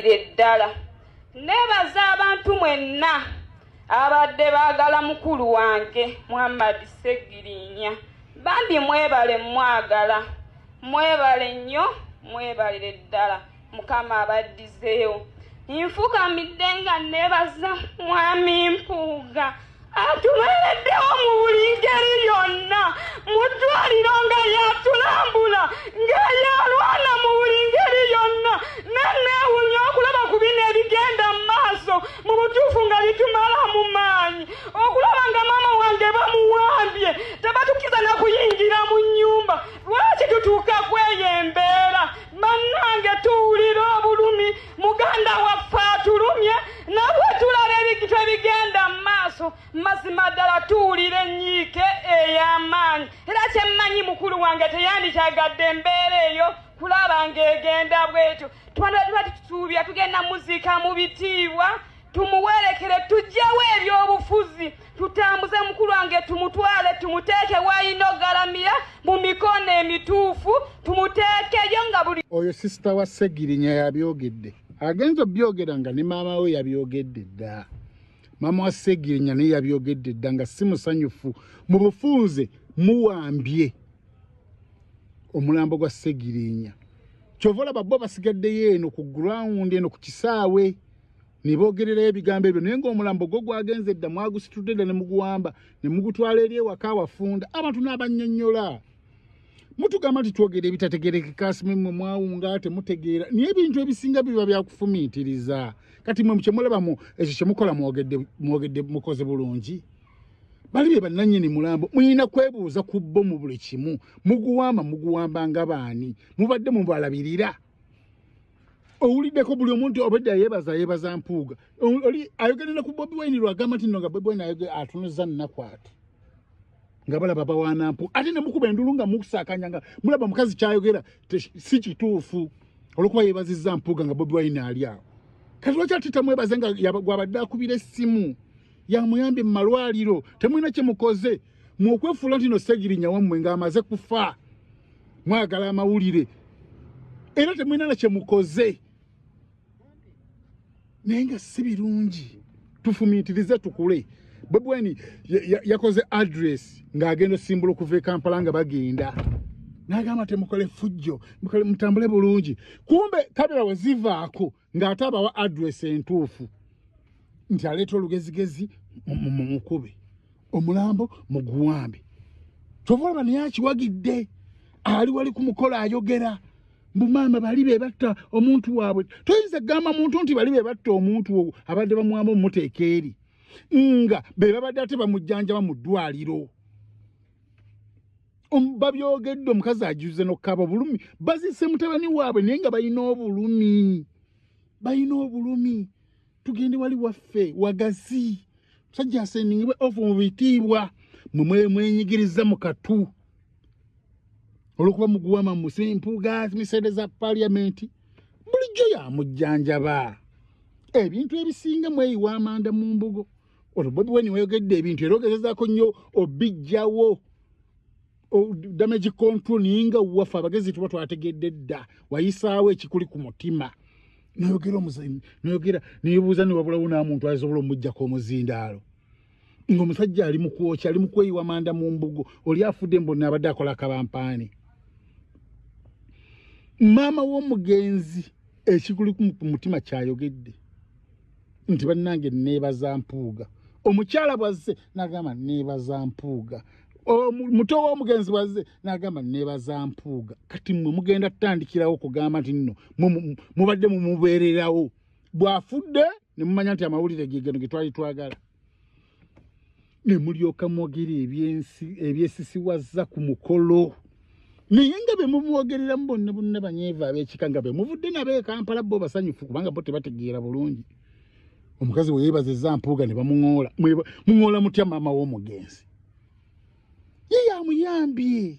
Ddala nebaza abantu mwenna abadde baagala mukulu wange Muhammad Ssegirinya bambi mwebale mwagala mwebale nnyo mwebalire ddala mukama abaddizeewo nfukamidde nga nebaza mwami Mpuuga atubeereddewo mu buli ngeri yonna mu ddwaliro nga yatulambula ng'eyalwana mu buli ngeri yonna neneewunya okulaba ku bino ebigenda mu maaso mu butuufu nga bitumala mu maanyi okulaba nga maama wange bamuwambye tebatukiza na kuyingira mu nnyumba lwaki tutuuka kweyo embeera bannange tuwulira obulumi muganda waffe atulumye nabwe tulaba ebintu ebigenda mu maaso mazima ddala tuwulira enyiike ey'amaanyi era kyemmanyi mukulu wange teyandikyagadde embeera eyo kulaba ng'egenda bwetyo twandiba tuba tutusuubya tugenda muziika mu bitiibwa tumuwerekere tujjewo ebyobufuzi tutambuze mukulu wange tumutwale tumuteeke wayina ogalamira mu mikono emituufu tumuteekeyo nga buli oyo sisita wa segirinya yabyogedde agenza obyogera nga ne maama we yabyogedde dda maama wa segirinya naye yabyogedde dda nga si musanyufu mu bufunze muwambye omulambo gwa segirinya kyova olaba bo basigaddeyo eno ku gurawundi eno ku kisaawe nebogererayo ebigambo ebyo naye ngaomulambo gwo gwagenze dda mwagusitudde dda nemuguwamba nemugutwala eri ewaka wafunda abantu nabanyonyola mutugamba nti twogera ebitategerekeka simwe mwe mwawunga temutegeera naye ebintu ebisinga biba byakufumiitiriza kati mwe mukyemulabamu ekyo kyemukola mwogedde mukoze bulungi bali bye bannanyini mulambo mulina kwebuuza ku bo mu buli kimu muguwamba muguwamba nga baani mubadde mubalabirira owuliddeko buli omuntu obwedda yebaza yebaza mpuuga oli ayogere ne ku bobi wine lwagamba nti no nga bobi wine ayoge atunuza nnaku ati nga balaba bawanampu ate ne mukuba endulu nga mukusakanya nga mulaba mukazi kyayogera si kituufu olwokuba yebazizza mpuuga nga bobi wine ali awo kati lwaki ati tamwebaze nga gwabadde akubira essimu yamuyambye mu malwaliro temulina kyemukoze mwokwefuula nti no segirinya wammwe ng'amaze kufa mwagala amawulire era temwinana kyemukoze naye nga si birungi tufumiitirize tukule bobweni yakoze ya, ya address ng'agenda osimbula okuva e kampala nga bagenda nagamba temukole fujjo mutambule bulungi kumbe kabira wezivaako ng'ate abawa adresi entuufu nti aleeta olugezigezi mumukube omulambo muguwambe kyova olaba naye akiwagidde ali wali ku mukolo ayogera mbu maama bali be batta omuntu waabwe toyinza kugamba muntu nti bali be batta omuntu owo abadde bamuwamba omumuteeka eri nga be babadde ate bamujjanjaba mu ddwaliro babyogedde omukazi ajuze nokukaba obulumi bazise mutabani waabwe naye nga balina obulumi balina obulumi tugende wali waffe wagazi musajja asendingibwe ofu mu bitiibwa mwe mwenyigiriza mu katu olwokuba muguwama musi mpuuga misede za paliamenti bulijjo yamujjanjaba ebintu ebisinga mweyiwa amanda mu mbugo ono bobi weni weyogedde ebintu era ogezezaako nnyo obijjawo damage control naye nga waffe abagezi tuba twategedde dda wayisaawo ekikuli ku mutima noyogera omuzinda noyogera nebuuza newabulawo namuntu asobola omujjako omuzindaalo ngaomusajja ali mukwokya ali mukweyiwa manda mu mbugo oli afudde mbonna abadde akola akabampaani maama w'omugenzi ekikuli ku mutima kyayogedde nti bannange neebaza mpuuga omukyala bwazze nagamba neebaza mpuuga muto w'omugenzi bwazze nagamba neebaza mpuuga kati mwe mugenda tutandikirawo okugamba nti nno mubadde mumubeererawo bw'afudde ne mumanya nti amawulire gegeno ge twali twagala ne mulyoka mwogera ebyensi ebyesisiwazza ku mukolo naye nga be mumwogereramu bonna bonna banyeeva ab'ekika nga be muvudde nabo ekampala bo basanyufu kubanga bo tebategeera bulungi omukazi we yeebaza eza mpuuga ne bamuŋoola muŋoola mutya maama w'omugenzi ye yamuyambye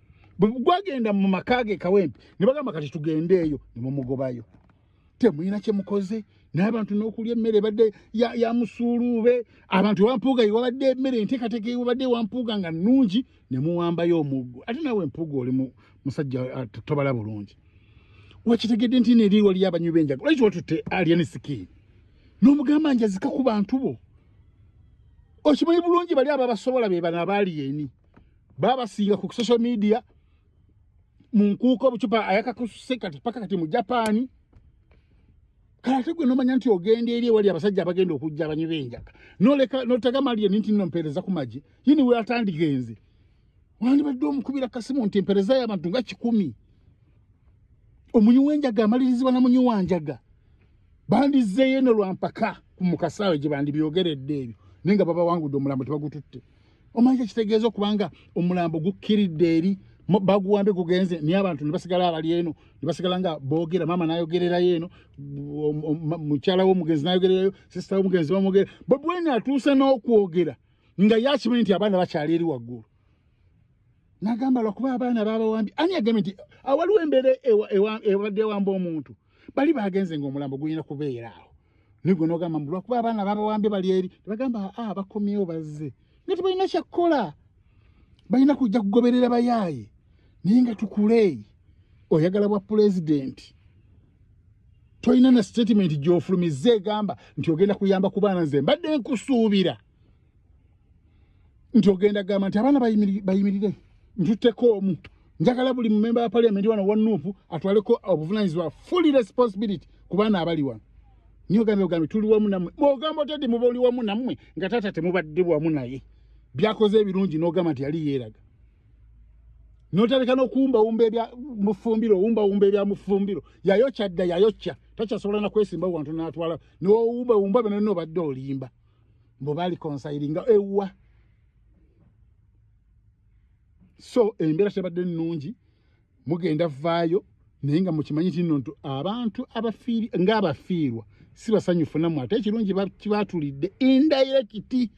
bwegwagenda mu maka ge kawempe ne bagamba kati tugende eyo ne mumugobayo temulina kye mukoze naye abantu n'okulya emmere ebadde ya musuuluube abantu ewampuuga yewabadde emmere enteekateeka ewabadde ewampuuga nga nnungi ne muwambayo omuggo ate naawe empuuga oli musajja ah, tobala bulungi wakitegedde nti neeri waliyo abanywi b'enjaga lwaki watutte alien skin n'omugamba njazika ku bantu bo okimanyi bulungi bali ababasobola be bano abaali eni babasinga ku social media mu nkuuka obucupa ayakakususe kati paka kati mu japaani kala tegwe nomanya nti ogenda eri ewali abasajja abagenda okujja abanywi benjaga noleka notega mali ye ninti nompereza ku maji yini we atandigenze wandibadde omukubira kasimu nti empereza y'abantu nga kikumi omunywi w'enjaga amalirizibwa na munywi wa njaga bandizzeeyo ne lwampaka ku mukasaawe gye bandibyogeredde ebyo naye nga babawangudde omulambo tebagututte omanyi kyekitegeeza okuba nga omulambo gukkiridde eri baguwambe gugenze naye abantu nebasigala abali eno nebasigala nga boogera maama nayogererayo eno mukyala womugenzi nayogererayo sisita womugenzi bamwogera bobwene atuuse n'okwogera nga yakimanyi nti abaana bakyali eri waggulu nagamba lwakuba abaana babawambi ani agambye nti awaliwo embeera ebadde ewamba omuntu bali bagenze ngaomulambo gulina kubeera awo naye gwe nogamba mbu lwakuba abaana babawambye bali eri tebagamba aa ah, bakomyewo bazze nga tebalina kyakukola balina kujja kugoberera bayaaye naye nga tukuleeyi oyagala bwa pulezidenti tolina na sitatimenti gyofulumiza egamba nti ogenda kuyamba ku baana nze mbadde nkusuubira nti ogenda gamba nti abaana bayimirire ntutteko omu njagala buli mumemba wa paliamenti wano wa nuupu atwaleko obuvunanyizibwa fully responsibility ku baana abali wano niyo gambe ogambe tuli wamu namwe ogamba otedi muba oli wamu namwe nga taata temubadde wamu naye byakoze ebirungi nogamba nti yali yeeraga notaleka nokuwumbawumba ebyamufumbiro owumbawumba ebyamufumbiro yayokya dda yayokya takyasobola nakwesimba wantu natwala nowumbawumba byona nobadde olimba mbu bali konsayiringa ewa so embeera tebadde nnungi mugenda vaayo naye nga mukimanyi kino nti abantu abafiiri ngaabafiirwa si basanyufu namwe ate ekirungi kibatulidde indayirekiti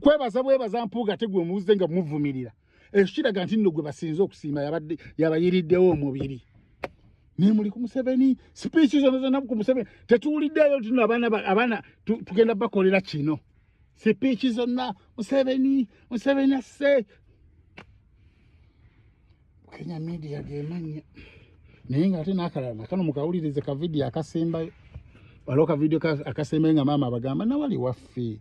kwebaza bwebaza mpuuga tegwe muwuzze nga muvumirira ekyo kiraga nti nno gwe basinze okusiima yabadde yabayiriddewo omubiri naye muli ku museveni sipiiki zona zona ku museveni tetuwuliddeyo tino abaana abaana tugenda bakolera kino sipiiki zonna museveni museveni asse kenya media gemanya naye nga ate nakalala nakano mukawulirize kavidiyo akasembayo waliwo kavidiyo akasembayo nga maama abagamba nawali waffe